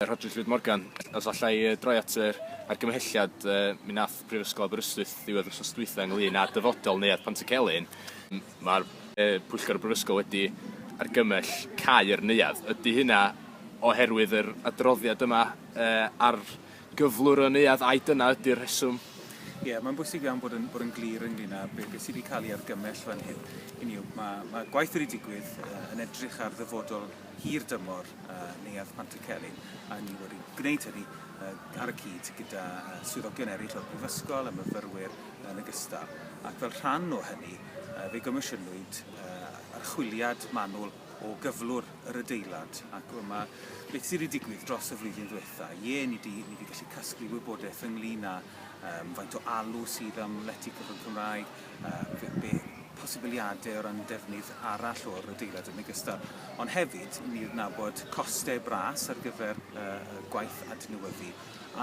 Rhodri Llwyd Morgan. Os allai yy, droi at yr argymhelliad yy, mi nath Prifysgol Aberystwyth ddiwedd wsos dwytha ynglyn â dyfodol Neuadd Pantycelyn, mae'r yy, Pwyllgor y Brifysgol wedi argymell cau yr neuadd. Ydy hynna oherwydd yr adroddiad yma yy, ar gyflwr y neuadd ai dyna ydy'r rheswm? Ie, yeah, mae'n bwysig iawn bod yn, bod yn glir ynglyn â beth be sydd wedi cael ei argymell fan hyn. Hynny yw, mae, mae gwaith wedi digwydd uh, yn edrych ar ddyfodol hirdymor Neuadd Pantycelyn, a ni wedi gwneud hynny ar y cyd gyda swyddogion eraill o'r Brifysgol a myfyrwyr yn ogystal, ac fel rhan o hynny fe gomisiynwyd archwiliad manwl o gyflwr yr adeilad, ac dyma beth sydd wedi digwydd dros y flwyddyn ddiwetha'. Ie, ni 'di ni 'di gallu casglu wybodaeth ynglyn â yym faint o alw sydd am lety cyfrwng Cymraeg, yy be' be' posibiliade o ran defnydd arall o'r adeilad yn ogystal. Ond hefyd, i ni adnabod coste bras ar gyfer yy y gwaith adnewyddu,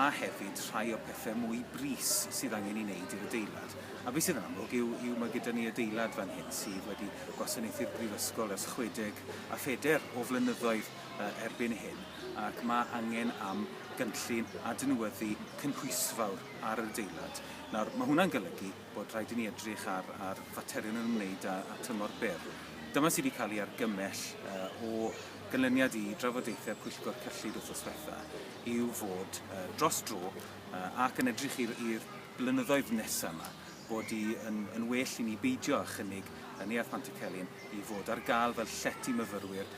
a hefyd rhai o pethe mwy brys sydd angen 'i wneud i'r adeilad. A be' sydd yn amlwg yw yw ma' gyda ni adeilad fan hyn sydd wedi gwasanaethu'r Brifysgol ers chwedeg a pheder o flynyddoedd yy erbyn hyn, ac ma' angen am gynllun adnewyddu cynhwysfawr ar yr adeilad. Nawr, ma' hwnna'n golygu bod rhaid i ni edrych ar, ar faterion yn ymwneud â, â tymor byr. Dyma sydd wedi cael ei argymell uh, o ganlyniad i drafodaethau pwyllgor cyllid wrthos diwetha yw fod uh, dros dro uh, ac yn edrych i'r blynyddoedd nesaf yma bod i yn, yn well i ni beidio â chynnig yn Neuadd Pantycelyn i fod ar gael fel llety myfyrwyr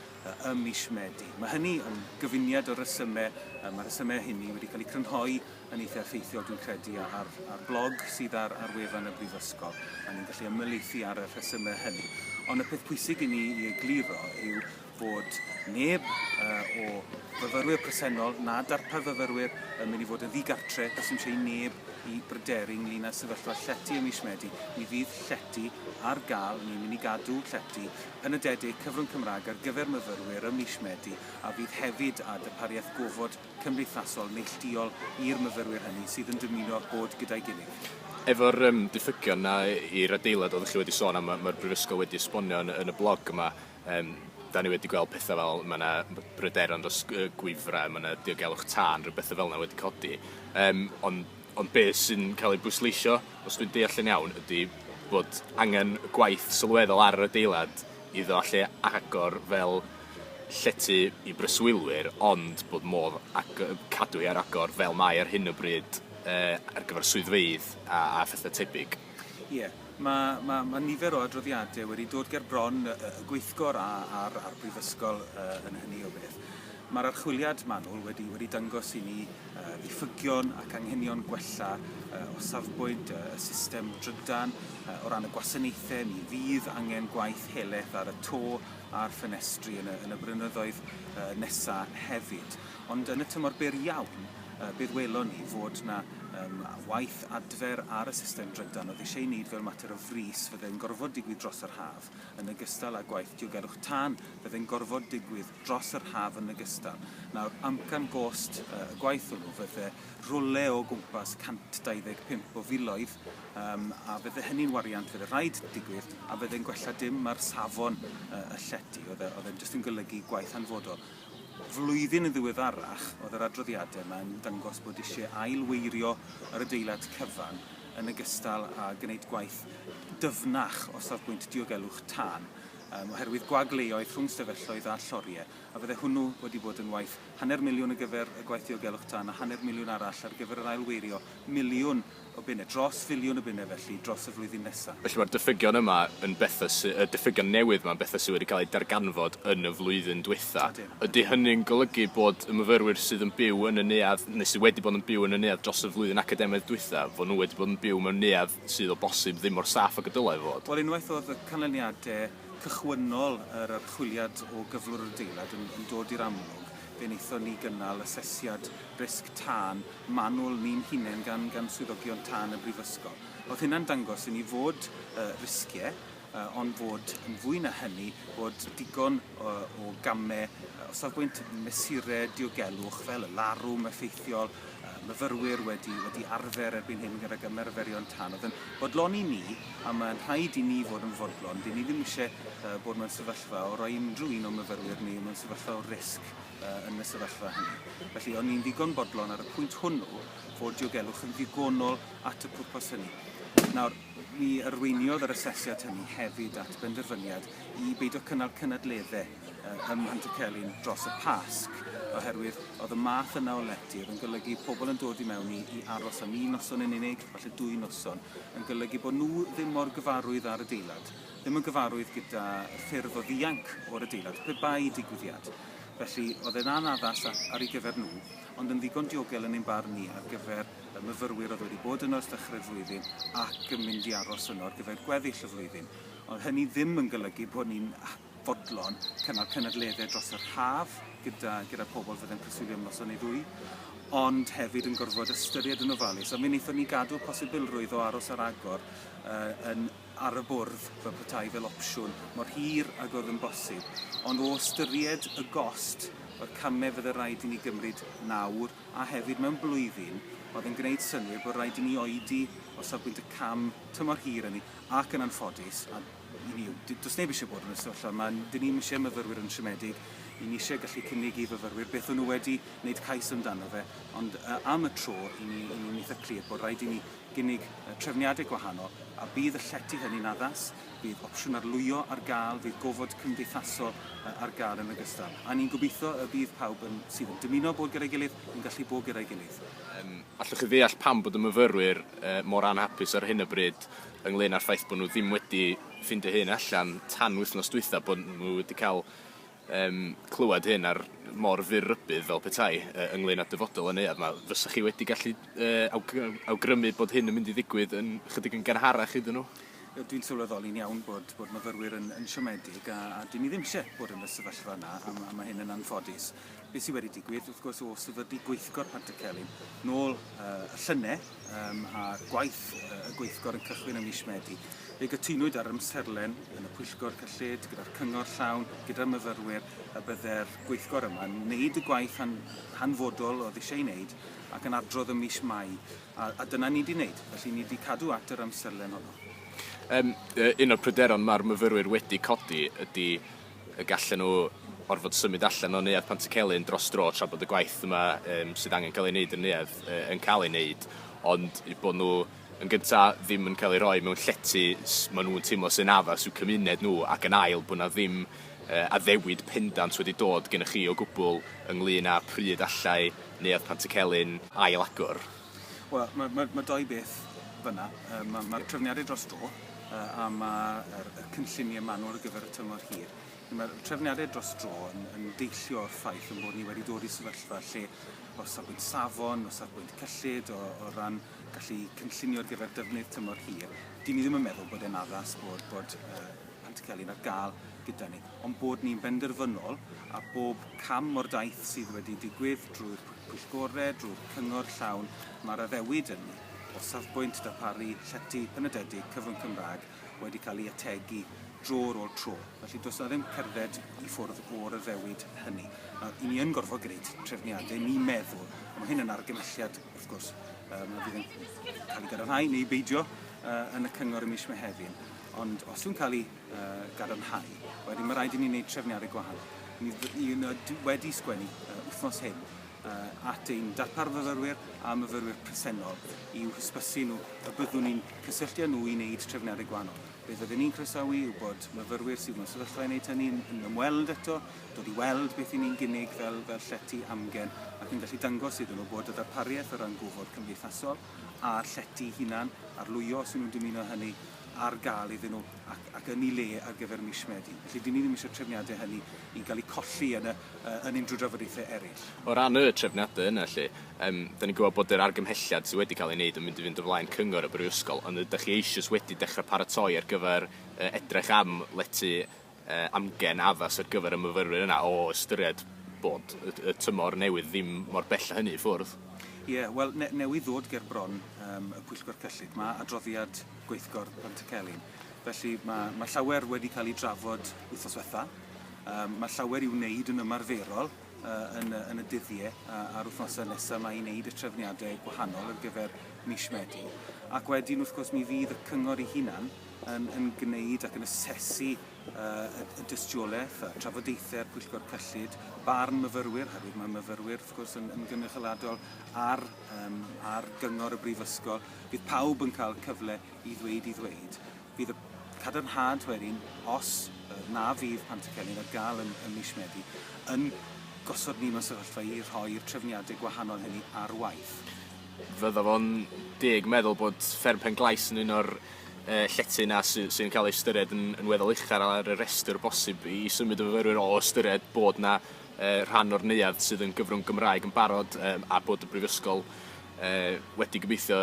ym mis Medi. Mae hynny yn gyfuniad o resymau, mae resymau hynny wedi cael eu crynhoi yn eitha' effeithiol dwi'n credu a- ar ar blog sydd ar ar wefan y brifysgol a ni'n gallu ymylieithu ar y rhesyme hynny. Ond y peth pwysig i ni i egluro yw fod neb uh, o fyfyrwyr presennol na darpar fyfyrwyr yn mynd i fod yn ddigartre, does dim eisiau i neb i bryderu ynglyn â sefyllfa llety ym mis Medi. Mi fydd llety ar gael, ni'n mynd i gadw llety yn y dedig cyfrwng Cymraeg ar gyfer myfyrwyr ym mis Medi a fydd hefyd â darpariaeth gofod cymdeithasol neillduol i'r myfyrwyr hynny sydd yn dymuno bod gyda'i gilydd. Efo'r yym diffygion 'na i'r adeilad oeddech chi wedi sôn am yy ma'r Brifysgol wedi esbonio yn yn y blog yma yym 'dan ni wedi gweld petha fel ma' 'na b- bryderon dros yy gwifre ma' 'na diogelwch tân rhyw betha fel 'na wedi codi yym on' ond be' sy'n ca'l ei bwysleisio os dwi'n deall yn iawn ydi bod angen gwaith sylweddol ar yr adeilad iddo allu agor fel llety i breswylwyr ond bod modd ag- yy cadw hi ar agor fel mae ar hyn o bryd yy ar gyfer swyddfeydd a a phethe tebyg. Ie, ma' ma' ma' nifer o adroddiade wedi dod ger bron y y y gweithgor a a'r a'r brifysgol yy yn hynny o beth. Ma'r archwiliad manwl wedi wedi dangos i ni ddiffygion ac anghenion gwella o safbwynt y system drydan. O ran y gwasanaethau, mi fydd angen gwaith heleth ar y to a'r ffenestri yn y, yn y brynyddoedd nesa hefyd. Ond yn y tymor byr iawn, bydd welon ni fod yna um, waith adfer ar y system drydan oedd eisiau ei wneud fel mater o fris fydde'n gorfod digwydd dros yr haf, yn ogystal â gwaith diogelwch tân fydde'n gorfod digwydd dros yr haf yn ogystal. Nawr, amcan gost y gwaith hwnnw fydde rwle o gwmpas 125 o filoedd um, a fydde hynny'n wariant fydde rhaid digwydd a fydde'n gwella dim mae'r safon uh, y llety oedd e, oedd e'n jyst yn golygu gwaith anfodol flwyddyn yn ddiweddarach oedd yr adroddiadau yma yn dangos bod eisiau ailweirio yr adeilad cyfan yn ogystal â gwneud gwaith dyfnach o safbwynt diogelwch tân. oherwydd gwag leoedd rhwng stafelloedd a lloriau, a fydde hwnnw wedi bod yn waith hanner miliwn ar gyfer y gwaith diogelwch tân a hanner miliwn arall ar gyfer yr ailweirio miliwn o bunnau, dros filiwn o bunnau felly, dros y flwyddyn nesaf. Felly, mae'r diffygion yma yn bethau sy-, y diffygion newydd yma yn bethau sydd wedi cael eu darganfod yn y flwyddyn dwytha. Ydy hynny'n golygu bod y myfyrwyr sydd yn byw yn y neuadd, neu sydd wedi bod yn byw yn y neuadd dros y flwyddyn academaidd dwytha, fod nhw wedi bod yn byw mewn neuadd sydd o bosib ddim mor saff ag y dylai fod. Wel, unwaith oedd y canlyniadau cychwynnol yr archwiliad o gyflwr yr adeilad yn yn dod i'r amlwg, fe wnaethon ni gynnal asesiad risg tân manwl ni'n hunain gan gan swyddogion tân y Brifysgol. O'dd hynna'n dangos i ni fod yy risgiau ond fod yn fwy na hynny, bod digon o gamau o safbwynt mesurau diogelwch fel y larwm effeithiol, myfyrwyr wedi, wedi arfer erbyn hyn gydag ymarferion tân, oedd yn fodlon i ni, a mae'n rhaid i ni fod yn fodlon, dyn ni ddim eisiau bod mewn sefyllfa o roi unrhyw un o'n myfyrwyr ni mewn sefyllfa o risg yn y sefyllfa hynny. Felly, o'n ni'n ddigon bodlon ar y pwynt hwnnw fod diogelwch yn ddigonol at y pwrpas hynny. Nawr, Mi arweiniodd yr asesiad hynny hefyd at benderfyniad i beidio cynnal cynadleddau ym Mhantycelyn dros y Pasg, oherwydd oedd y math yna o letydd yn golygu pobl yn dod i mewn i, i aros am un noson yn unig, falle dwy noson, yn golygu bod nhw ddim mor gyfarwydd â'r adeilad, ddim yn gyfarwydd gyda ffyrdd o ddianc o'r adeilad, pe bai digwyddiad. Felly, oedd e'n anaddas ar ei gyfer nhw, ond yn ddigon diogel yn ein barn ni ar gyfer y myfyrwyr oedd wedi bod yno ers dechrau'r flwyddyn ac yn mynd i aros yno ar gyfer gweddill y flwyddyn. Ond hynny ddim yn golygu bod ni'n fodlon cynnal cynadleddau dros yr haf gyda, gyda pobl fydde'n preswylio am noson neu ddwy, ond hefyd yn gorfod ystyried yn ofalus. A mi wnaethon ni gadw'r posibilrwydd o aros ar agor uh, yn ar y bwrdd fel petai fel opsiwn mor hir ag oedd yn bosib. Ond o ystyried y gost o'r camau fydde rhaid i ni gymryd nawr, a hefyd mewn blwyddyn oedd yn gwneud synnwyr bod rhaid i ni oedi o safbwynt y cam tymor hir hynny ac yn anffodus, a i ni, does neb eisiau bod yn y sefyllfa yma, dyn ni'm eisiau myfyrwyr yn siomedig, i ni eisiau gallu cynnig i fyfyrwyr beth o'n nhw wedi wneud cais amdano fe, ond am y tro i ni, i ni'n eitha' clir bod rhaid i ni gynnig trefniadau gwahanol a bydd y llety hynny'n addas. Bydd opsiwn arlwyo ar gael, bydd gofod cymdeithasol ar gael yn ogystal. A ni'n gobeithio y bydd pawb yn, sydd yn dymuno bod gyda'i gilydd yn gallu bod gyda'i gilydd. Yym, allwch chi ddeall pam bod y myfyrwyr yy mor anhapus ar hyn o bryd ynglŷn â'r ffaith bod nhw ddim wedi ffindio hyn allan tan wythnos dwytha, bod nhw wedi cael um, clywed hyn ar mor fyr rybydd fel petai uh, ynglyn â dyfodol y neuad yma, fysych chi wedi gallu uh, awgrymu bod hyn yn mynd i ddigwydd yn chydig yn gynharach iddyn nhw? Dwi'n sylweddoli'n iawn bod, bod myfyrwyr yn, yn siomedig a, a dyn ni ddim eisiau bod yn y sefyllfa yna a, a mae hyn yn anffodus. Beth sydd wedi digwydd, wrth gwrs, o sefydlu gweithgor Pant y Celyn nôl uh, y llynau, um, a gwaith y gweithgor yn cychwyn ym mis Medi. Fe gytunwyd ar ymserlen yn y pwyllgor cyllid gyda'r cyngor llawn, gyda'r myfyrwyr, y bydde'r gweithgor yma yn wneud y gwaith han, hanfodol oedd eisiau ei wneud ac yn adrodd ym mis Mai, a, a dyna ni wedi wneud, felly ni wedi cadw at yr ymserlen honno. Um, un o'r pryderon mae'r myfyrwyr wedi codi ydy y gallen nhw orfod symud allan o Neuadd Pantycelyn dros dro tra bod y gwaith yma um, sydd angen cael ei wneud yn Neuadd uh, yn cael ei wneud, ond bod nhw yn gyntaf ddim yn cael ei roi mewn llety maen nhw'n teimlo sy'n addas i'w cymuned nhw ac yn ail bod na ddim uh, addewid pendant wedi dod gennych chi o gwbl ynglyn â pryd allai Neuadd Pantycelyn ail agor. Wel, mae, mae, mae dau beth fyna. Mae'r ma, ma trefniadau dros dro a mae'r cynlluniau manwl ar gyfer y tymor hir. Mae'r trefniadau dros dro yn, yn deillio o'r ffaith yn bod ni wedi dod i sefyllfa lle o safbwynt safon, o safbwynt cyllid, o, o ran gallu cynllunio ar gyfer defnydd tymor hir, dyn ni ddim yn meddwl bod e'n addas bod, bod uh, Pantycelyn ar gael gyda ni. ond bod ni'n benderfynol ar bob cam o'r daith sydd wedi digwydd drwy'r pwyllgorau, drwy'r cyngor llawn mae'r addewid ynni o safbwynt darparu llety penodedig cyfrwng Cymraeg wedi cael ei ategu dro ar ôl tro. Felly, does 'na ddim cerdded i ffwrdd o'r addewid hynny. Nawr, 'y ni yn gorfod gwneud trefniadau, ni'n meddwl, a mae hyn yn argymhelliad, wrth gwrs, um, a fydd yn cael ei gadarnhau neu beidio uh, yn y cyngor y mis Mehefin. Ond os yw'n cael ei gadarnhau. Wedyn mae rhaid i ni wneud trefniadau gwahanol. Ni, ni wedi sgwennu uh, wythnos hyn uh, at ein darpar myfyrwyr a myfyrwyr presennol i'w hysbysu nhw y byddwn ni'n cysylltu â nhw i wneud trefniadau gwahanol. Be fyddwn ni'n croesawu yw bod myfyrwyr sydd mewn sefyllfa i wneud hynny'n yn ymweld eto, dod i weld beth i ni'n gynnig fel, fel llety amgen ac yn gallu dangos iddyn nhw bod y darpariaeth o ran gofod cymdeithasol a'r llety hunan arlwyo os nhw'n dymuno hynny ar gael iddyn nhw ac, ac yn ei le ar gyfer mis Medi. Felly, dyn ni ddim eisiau trefniadau hynny i gael eu colli yn, y, yn unrhyw drafodaethau eraill. O ran y trefniadau yna felly, um, da ni'n gwybod bod yr argymhelliad sydd wedi cael ei wneud yn mynd i fynd o flaen cyngor y brifysgol, ond ydych chi eisiau wedi dechrau paratoi ar gyfer uh, edrych am letu amgen addas ar gyfer y myfyrwyr yna o ystyried bod y y tymor newydd ddim mor bell â hynny i ffwrdd? Ie, wel, ne- newydd ddod ger bron yym y Pwyllgor Cyllid mae adroddiad gweithgor Pantycelyn. Felly mae mae llawer wedi cael ei drafod wythnos ddiwetha'. Yym mae llawer i'w wneud yn ymarferol yy yn y yn y dyddie a a'r wythnosau nesa' 'ma i wneud y trefniadau gwahanol ar gyfer mis Medi. Ac wedyn wrth gwrs mi fydd y Cyngor ei hunan yn, yn gwneud ac yn asesu uh, y, y dystiolaeth, a trafodaethau'r pwyllgor cyllid, barn myfyrwyr, herwydd mae myfyrwyr, wrth gwrs, yn, yn gynrychioladol ar, um, ar gyngor y brifysgol. Bydd pawb yn cael cyfle i ddweud i ddweud. Bydd y cadarnhad wedyn, os uh, na fydd pant y celyn ar gael yn, yn mis Medi, yn gosod ni mewn sefyllfa i rhoi'r trefniadau gwahanol hynny ar waith. Fydda fo'n deg meddwl bod Fferm Pen-glais yn un o'r yy llety 'na sy sy'n ca'l ei ystyried yn yn weddol uchel ar y rhestr bosib i symud y fyfyrwyr o ystyried bod 'na yy rhan o'r neuadd sydd yn gyfrwng Gymraeg yn barod yym a bod y Brifysgol yy wedi gobeithio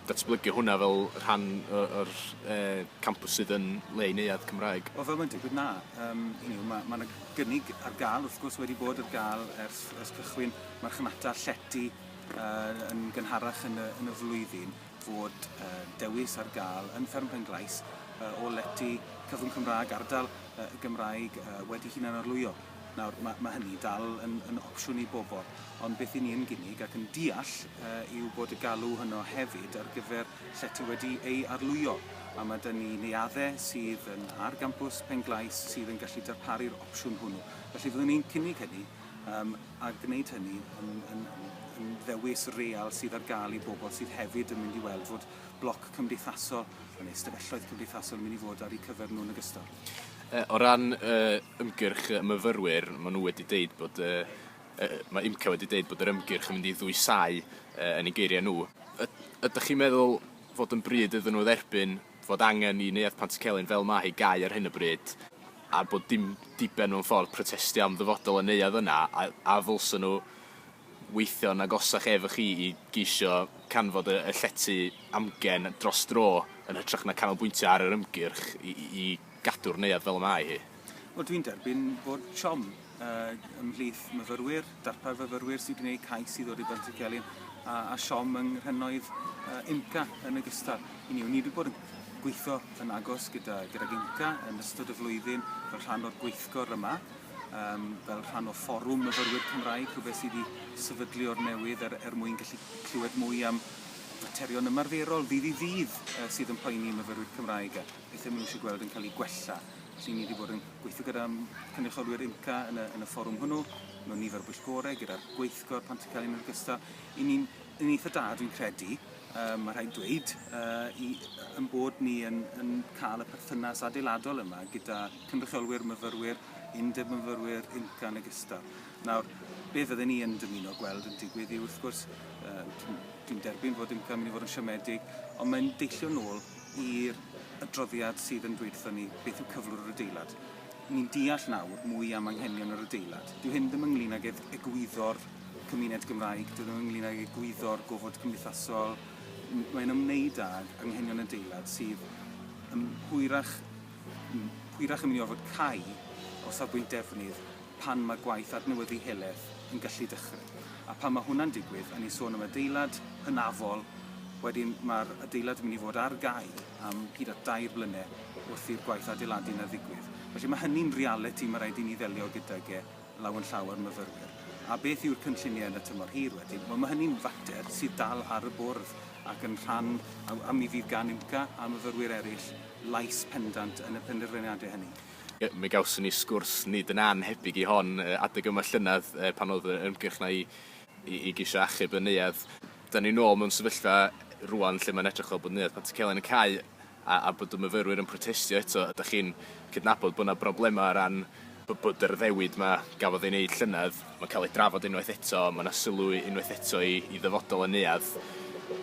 datblygu hwnna fel rhan o o'r yy campws sydd yn le i neuadd Cymraeg. Wel fel mae'n digwydd na yym hynny yw ma' ma' 'na gynnig ar ga'l wrth gwrs wedi bod ar ga'l ers ers cychwyn marchnata llety yy yn gynharach yn y yn y flwyddyn fod yy dewis ar gael yn Fferm Penglais yy o lety Cyfrwng Cymraeg ardal yy y Gymraeg yy wedi hunan arlwyo. Nawr ma' ma' hynny dal yn yn opsiwn i bobl ond beth i ni yn gynnig ac yn deall yy yw bod y galw hwno hefyd ar gyfer llety wedi ei arlwyo a ma' 'da ni neuadde sydd yn ar gampws Penglais sydd yn gallu darparu'r opsiwn hwnnw felly fyddwn ni'n cynnig hynny um, a gwneud hynny yn, yn, yn ddewis real sydd ar gael i bobl sydd hefyd yn mynd i weld fod bloc cymdeithasol yn ei stafelloedd cymdeithasol yn mynd i fod ar eu cyfer nhw'n ogystal. Uh, o ran uh, ymgyrch y myfyrwyr, maen nhw wedi deud bod uh, uh, mae IMCA wedi deud bod yr ymgyrch yn mynd i ddwysau uh, yn ei geiriau nhw. Ydych chi'n meddwl fod yn bryd iddyn nhw dderbyn fod angen i Neuadd Pantycelyn fel mae hi gau ar hyn o bryd, a bod dim diben mewn ffordd protestio am ddyfodol y neuadd yna, a a ddylsen nhw weithio'n agosach efo chi i geisio canfod y y llety amgen dros dro yn hytrach na canolbwyntio ar yr ymgyrch i i i gadw'r neuadd fel y mae hi? Wel, dwi'n derbyn bod siom uh, ymhlith myfyrwyr, darpar fyfyrwyr sy'n gwneud cais i ddod i Bantycelyn, a, a siom yng nghrynnoedd uh, IMCA yn ogystal. I ni, ni wedi bod yn gweithio yn agos gyda, gyda IMCA yn ystod y flwyddyn fel rhan o'r gweithgor yma, um, fel rhan o fforwm myfyrwyr Cymraeg, rhywbeth sydd wedi sefydlu o'r newydd er, er mwyn gallu clywed mwy am faterion ymarferol ddydd i ddydd uh, sydd yn poeni myfyrwyr Cymraeg. beth ydym nhw eisiau gweld yn cael ei gwella. Felly, ni wedi bod yn gweithio gyda cynrychiolwyr IMCA yn y, yn y fforwm hwnnw, mewn nifer o bwyllgorau, gyda'r gweithgor pan ti'n cael yn ogystal. I ni'n yn eitha da, dwi'n credu, um, mae rhaid dweud, uh, i, yn bod ni yn, yn cael y perthynas adeiladol yma gyda cynrychiolwyr myfyrwyr, undeb myfyrwyr, IMCA yn ogystal. Nawr, be fydden ni yn dymuno gweld yn digwydd i wrth gwrs, uh, dwi'n derbyn fod yn cael mynd i fod yn siomedig, ond mae'n deillio nôl i'r adroddiad sydd yn dweud wrthon ni beth yw cyflwr yr adeilad. Ni'n deall nawr mwy am anghenion yr adeilad. Dyw hyn ddim ynglyn ag eg egwyddor cymuned Gymraeg, dyw e ddim ynglyn ag egwyddor gofod cymdeithasol, mae'n ymwneud ag anghenion adeilad sydd yn hwyrach, yn hwyrach yn mynd i orfod cau o safbwynt defnydd pan mae gwaith adnewyddu heleth yn gallu dechrau. A pan mae hwnna'n digwydd, a ni'n sôn am adeilad hynafol, wedyn mae'r adeilad yn mynd i fod ar gau am hyd at dair blynedd wrth i'r gwaith adeiladu yna ddigwydd. Felly mae hynny'n realiti mae rhaid i ni ddelio gydag e law yn llaw â'r myfyrwyr. A beth yw'r cynlluniau yn y tymor hir wedyn? Wel, mae hynny'n fater sydd dal ar y bwrdd ac yn rhan, a mi fydd gan UMCA a myfyrwyr eraill lais pendant yn y penderfyniadau hynny. Mi gawson ni sgwrs nid yn annhebyg i hon adeg yma llynedd pan oedd yr ymgyrch 'na i i i geisio achub y neuadd. 'Dan ni nôl mewn sefyllfa rŵan lle mae'n edrych fel bod Neuadd Pantycelyn yn cau a a bod y myfyrwyr yn protestio eto. Ydach chi'n cydnabod bod 'na broblemau o ran b- bod yr addewid 'ma gafodd ei wneud llynedd, mae'n cael ei drafod unwaith eto, mae 'na sylw unwaith eto i i ddyfodol y neuadd.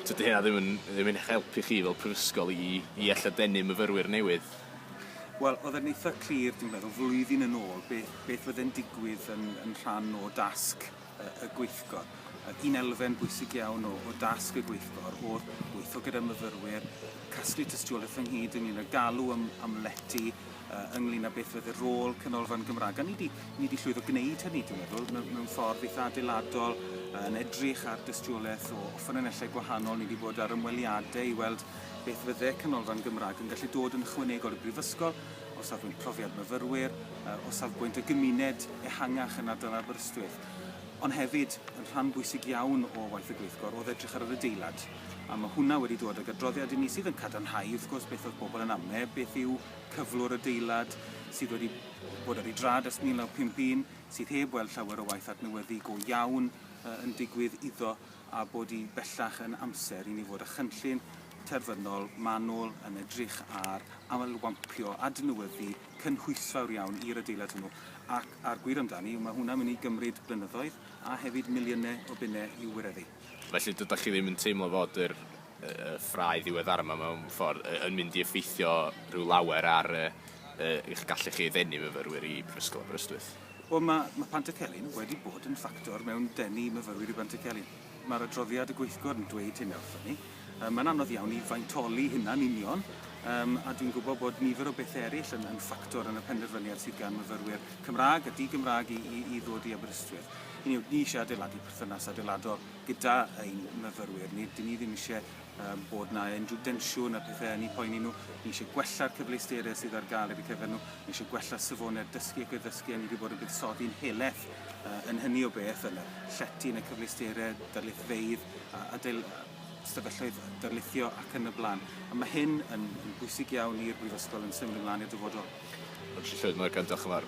Tydy hynna ddim yn ddim yn eich helpu chi fel prifysgol i i alla denu myfyrwyr newydd. Wel, oedd e'n eitha clir, dwi'n meddwl, flwyddyn yn ôl, beth, beth oedd e'n digwydd yn, yn rhan o dasg y, y gweithgor. Un elfen bwysig iawn o, o dasg y gweithgor oedd weithio gyda myfyrwyr, casglu tystiolaeth ynghyd ynglyn â galw am, am lety, uh, ynglyn â beth oedd y rôl Canolfan Gymraeg. A ni wedi, ni wedi llwyddo gwneud hynny, dwi'n meddwl, mewn, mewn ffordd eitha adeiladol, yn edrych ar dystiolaeth o ffynonellau gwahanol. Ni wedi bod ar ymweliadau i weld Beth fydde Canolfan Gymraeg yn gallu dod yn ychwanegol i'r Brifysgol o safbwynt profiad myfyrwyr, o safbwynt y gymuned ehangach yn ardal Aberystwyth, ond hefyd yn rhan bwysig iawn o waith y gweithgor oedd edrych ar yr adeilad, a mae hwnna wedi dod ag adroddiad i ni sydd yn cadarnhau wrth gwrs beth oedd pobl yn amne, beth yw cyflwr adeilad sydd wedi bod ar ei drad ers 1951, sydd heb weld llawer o waith adnewyddu go iawn yn digwydd iddo. a bod hi bellach yn amser i ni fod â chynllun terfynol manwl yn edrych ar ailwampio, adnewyddu cynhwysfawr iawn i'r adeilad hwnnw, ac a'r gwir amdani yw mae hwnna'n mynd i gymryd blynyddoedd a hefyd miliynau o bunnau i'w wireddu. Felly, dydach chi ddim yn teimlo fod yr y ffrae ddiweddar yma mewn ffordd yn mynd i effeithio rhyw lawer ar eich gallu chi ddenu myfyrwyr i Brifysgol Aberystwyth? Wel, mae, mae Pantycelyn wedi bod yn ffactor mewn denu myfyrwyr i Bantycelyn. Mae'r adroddiad y gweithgor yn dweud hynna wrthyn ni. Um, mae'n anodd iawn i faintoli hynna'n union, um, a dwi'n gwybod bod nifer o bethau eraill yn, yn ffactor yn y penderfyniad sydd gan myfyrwyr Cymraeg a di-Gymraeg i, i, i ddod i Aberystwyth. Hynny yw, ni eisiau adeiladu perthynas adeiladol gyda ein myfyrwyr ni. Dyn ni ddim eisiau um, bod na unrhyw densiwn a pethau yn eu poeni nhw. Ni eisiau gwella'r cyfleusterau sydd ar gael ar y cyfer nhw. Ni eisiau gwella'r safonau'r dysgu ac y ddysgu a ni wedi bod yn buddsoddi'n heleth uh, yn hynny o beth yn y llety, yn y cyfleusterau, darlithfeydd, a, a dyl, stafelloedd darlithio ac yn y blaen. A mae hyn yn, yn bwysig iawn i'r Brifysgol yn symud ymlaen i'r dyfodol. Felly llwyd, mae'r cyntaf chyfar.